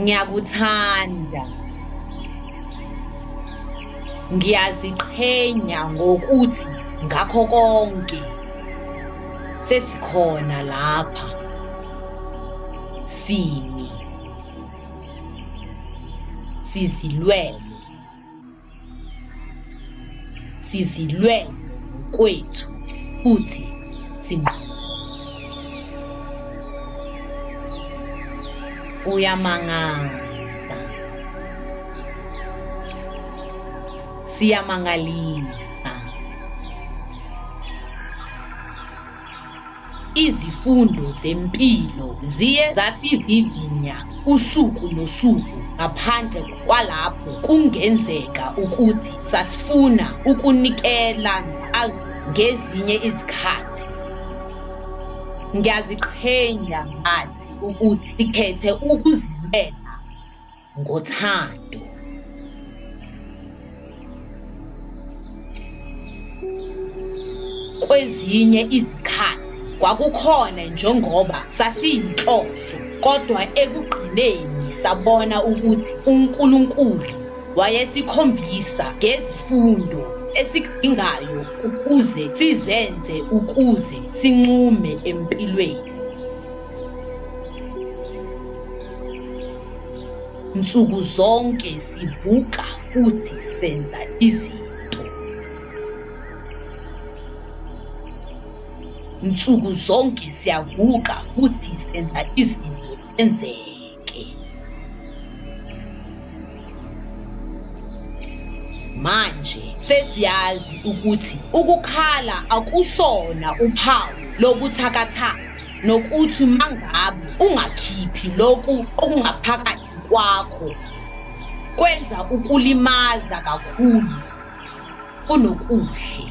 ngiyakuthanda ngiyaziqhenya ngokuthi ngakho konke sesikhona lapha simi sizilwele sizilwele ngokwethu futhi sinqobe. Uyamangaza. Siyamangalisa. Izifundo zempilo ziye zasivivinya usuku nosuku ngaphandle kwalapho kungenzeka ukuthi sasifuna ukunikela ngazo ngezinye izikhathi. Ngiyaziqhenya ngathi ukuthi sikhethe ukuzimela. ngothando kwezinye izikhathi kwakukhona njengoba sasiyinhloso kodwa ekugqineni sabona ukuthi uNkulunkulu wayesikhombisa ngezifundo esikudingayo ukuze sizenze ukuze sinqume empilweni Nsuku zonke sivuka futhi senza izinto. Nsuku zonke siyavuka futhi senza izinto zenzeke. manje sesiyazi ukuthi ukukhala akusona uphawu lobuthakathaka. nokuthi uma ngabe ungakhiphi lokhu okungaphakathi kwakho kwenza ukulimaza kakhulu kunokuhle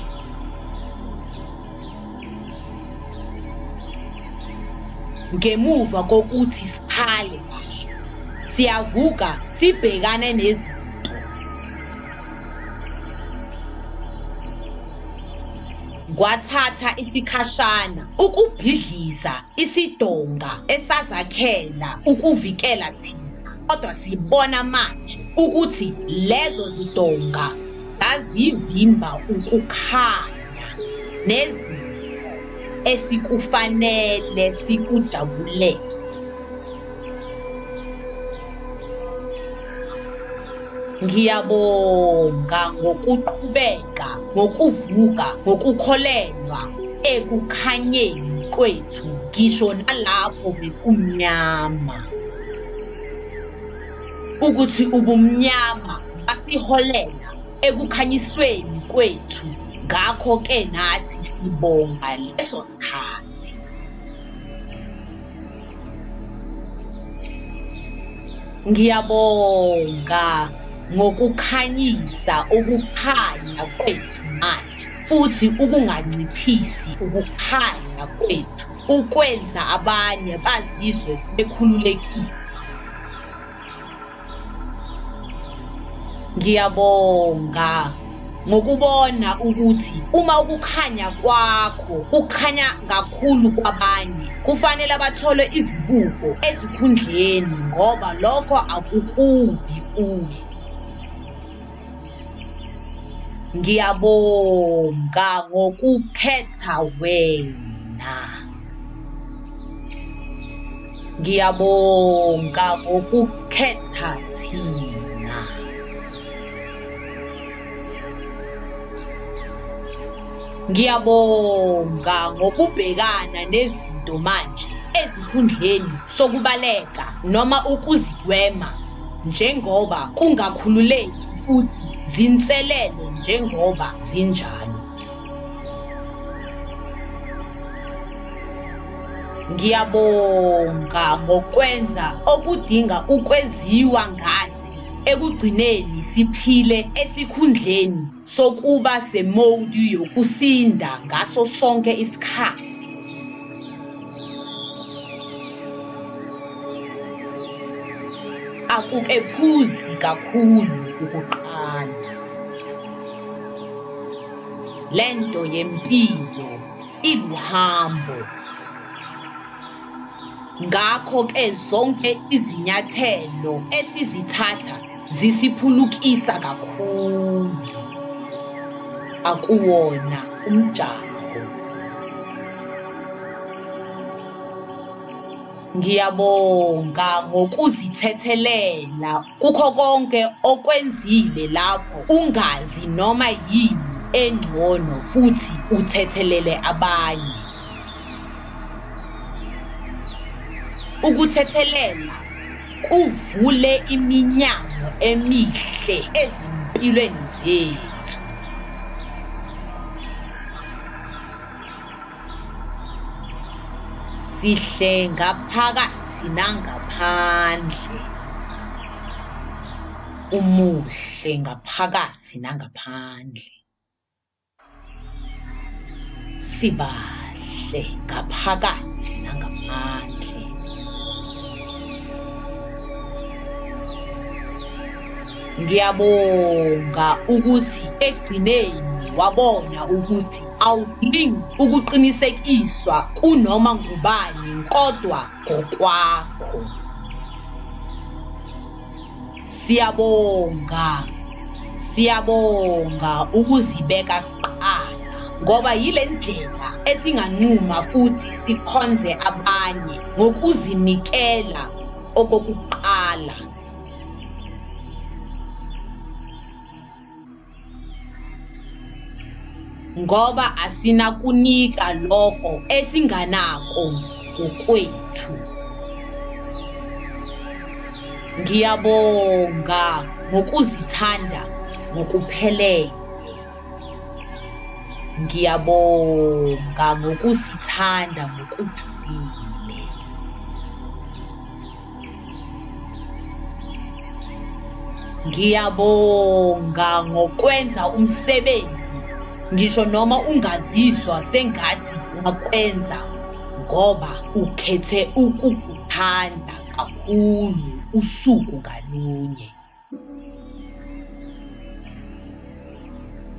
ngemuva kokuthi sikhale kahle siyavuka sibhekane nezinto kwathatha isikhashana ukubhidliza isidonga esazakhela ukuvikela thina kodwa sibona manje ukuthi lezo zidonga zazivimba ukukhanya nezi esikufanele sikujabulele Ngiyabonga ngokuqhubeka ngokuvuka ngokukholelwa ekukhanyeni kwethu ngisho nalapho bekumnyama ukuthi ubumnyama basiholela ekukhanyisweni kwethu ngakho ke nathi sibonga leso sikhathi Ngiyabonga ngokukhanyisa ukukhanya kwethu manje futhi ukunganciphisi ukukhanya kwethu ukwenza abanye bazizwe bekhululekile. ngiyabonga ngokubona ukuthi uma ukukhanya kwakho kukhanya kakhulu kwabanye kufanele abathole izibuko ezikhundleni ngoba lokho akukubi kuwe ngiyabonga ngokukhetha wena ngiyabonga ngokukhetha thina ngiyabonga ngokubhekana nezinto manje ezikhundleni sokubaleka noma ukuzigwema njengoba kungakhululeki futhi zinselele njengoba zinjalo. Ngiyabonga ngokwenza okudinga ukweziwa ngathi ekugcineni siphile esikhundleni sokuba semowudi yokusinda ngaso sonke isikhathi. akukephuzi kakhulu ukuqala lento yempilo iluhambo ngakho ke zonke izinyathelo esizithatha zisiphulukisa kakhulu akuwona umjaho ngiyabonga ngokuzithethelela kukho konke okwenzile lapho ungazi noma yini engcono futhi uthethelele abanye ukuthethelela kuvule iminyango emihle ezimpilweni zethu sihle ngaphakathi nangaphandle umuhle ngaphakathi nangaphandle sibahle ngaphakathi nangaphandle. Ngiyabonga ukuthi ekugcineni wabona ukuthi awudingi ukuqinisekiswa kunoma ngubani kodwa ngokwakho. Siyabonga. Siyabonga ukuzibeka kuqala ngoba yile ndlela esinganquma futhi sikhonze abanye ngokuzinikela okokuqala. ngoba asinakunika lokho esinganako ngokwethu ngiyabonga ngokuzithanda ngokuphelele ngiyabonga ngokusithanda ngokujulile Ngiyabonga ngokwenza umsebenzi ngisho noma ungazizwa sengathi ungakwenza ngoba ukhethe ukukuthanda kakhulu usuku ngalunye.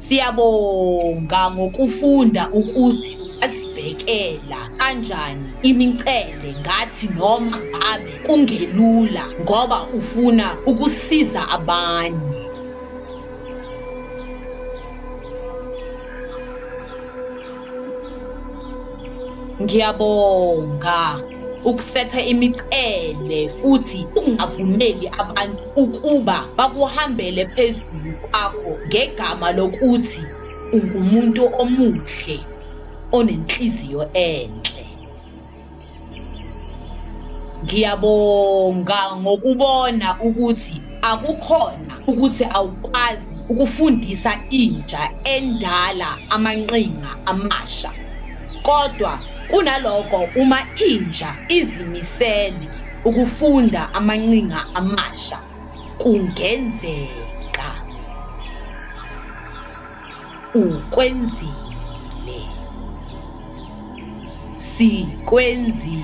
Siyabonga ngokufunda ukuthi azibhekela kanjani imincele ngathi noma ngabe kungelula ngoba ufuna ukusiza abanye ngiyabonga ukusetha imicele futhi ungavumeli abantu ukuba bakuhambele phezulu kwakho ngegama lokuthi ungumuntu omuhle onenhliziyo enhle ngiyabonga ngokubona ukuthi akukhona ukuthi awukwazi ukufundisa intsha endala amanqinga amasha kodwa kunaloko uma intsha izimisele ukufunda amanqinga amasha kungenzeka Ukwenzile. Sikwenzile.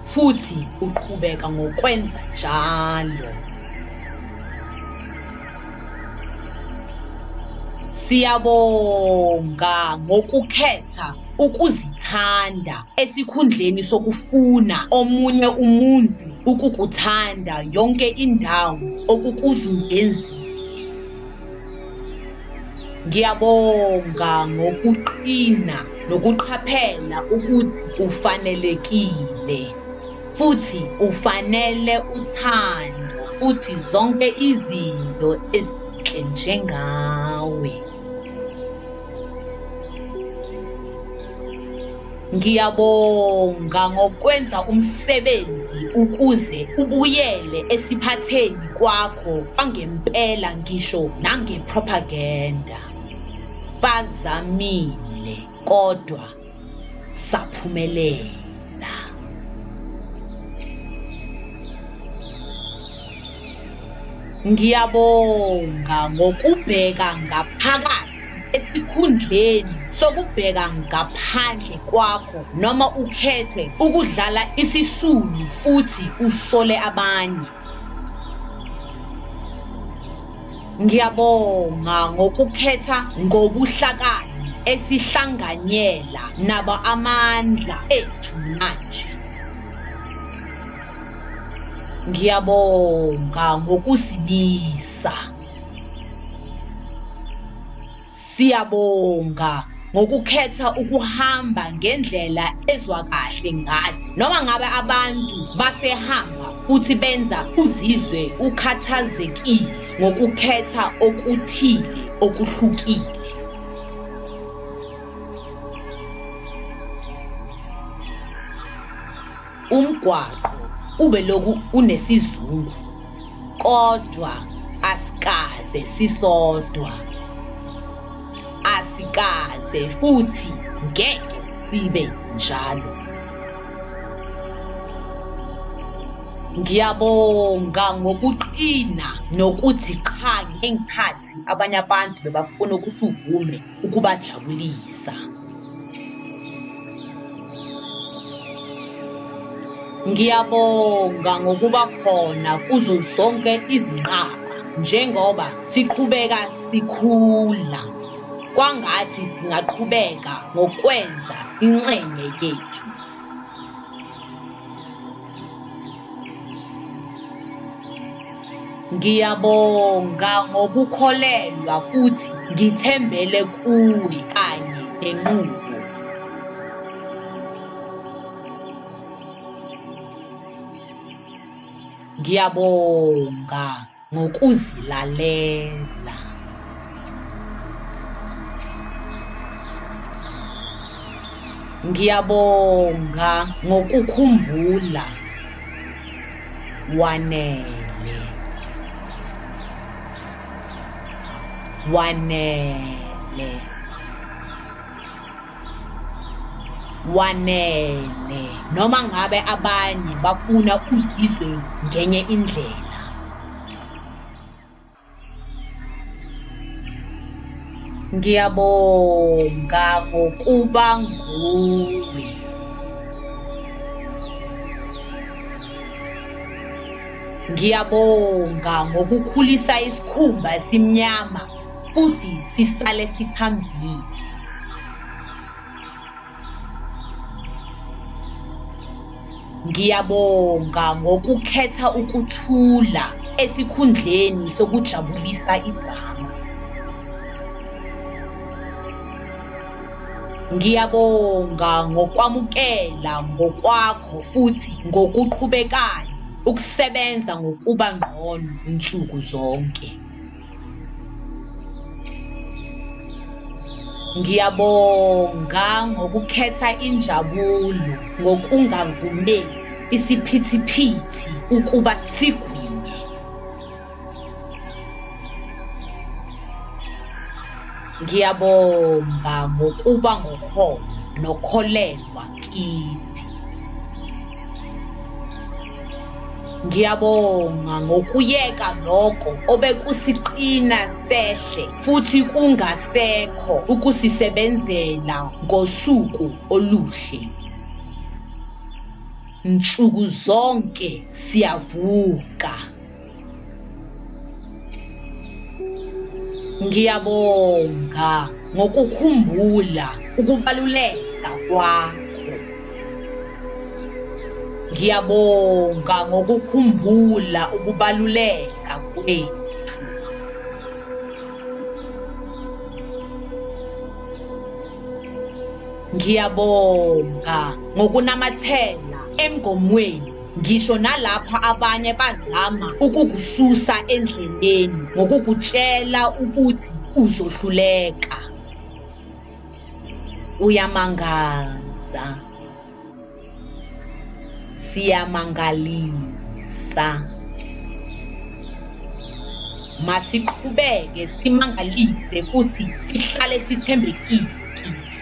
Futhi uqhubeka ngokwenza njalo. Siyabonga ngokukhetha ukuzithanda esikhundleni sokufuna omunye umuntu ukukuthanda yonke indawo okukuzungenzile. Ngiyabonga ngokuqina nokuqhaphela ukuthi ufanelekile futhi ufanele uthando futhi zonke izinto ezinhle njengawe. Ngiyabonga ngokwenza umsebenzi ukuze ubuyele esiphatheni kwakho kwangempela ngisho nangepropaganda. Bazamile kodwa saphumelela. Ngiyabonga ngokubheka ngaphakathi esikhundleni sokubheka ngaphandle kwakho noma ukhethe ukudlala isisulu futhi usole abanye. Ngiyabonga ngokukhetha ngobuhlakani esihlanganyela nabo amandla ethu manje. ngiyabonga ngokuzimisa siyabonga ngokukhetha ukuhamba ngendlela ezwa kahle ngathi noma ngabe abantu basehamba futhi benza uzizwe ukhathazekile ngokukhetha okuthile okuhlukile Umgwaqo ubelokhu unesizungu kodwa asikaze sisodwa. Asikaze futhi ngeke sibe njalo. Ngiyabonga ngokuqina nokuthi qha ngenkhathi abanye abantu bebafuna ukuthi uvume. ukubajabulisa ngiyabonga ngokuba khona kuzo zonke izinqaba njengoba siqhubeka sikhula kwangathi singaqhubeka ngokwenza inxenye yethu Ngiyabonga ngokukholelwa futhi ngithembele kuwe kanye nenqubo. Ngiyabonga. ngokuzilalela. Ngiyabonga ngokukhumbula wanele wanele wanele noma ngabe abanye bafuna uzizwe ngenye indlela ngiyabonga ngokuba nguwe ngiyabonga ngokukhulisa isikhumba esimnyama futhi sisale siphambili. Ngiyabonga ngokukhetha ukuthula esikhundleni sokujabulisa idrama. Ngiyabonga ngokwamukela ngokwakho futhi ngokuqhubekayo ukusebenza ngokuba ngqono nsuku zonke. Ngiyabonga ngokukhetha injabulo ngokungavumeli isiphithiphithi ukuba sigwinye. Ngiyabonga ngokuba ngokholo nokholelwa kithi. Ngiyabonga ngokuyeka lokho obekusiqina sehle futhi kungasekho ukusisebenzela ngosuku oluhle. Nsuku zonke siyavuka. Ngiyabonga ngokukhumbula ukubaluleka kwakho. Ngiyabonga ngokukhumbula ukubaluleka kwethu. Ngiyabonga ngokunamathela emgomweni Ngisho nalapho abanye bazama ukukususa endleleni ngokukutshela ukuthi uzohluleka. Uyamangaza. Siyamangalisa. Masiqhubeke simangalise futhi sihlale sithembekile kithi.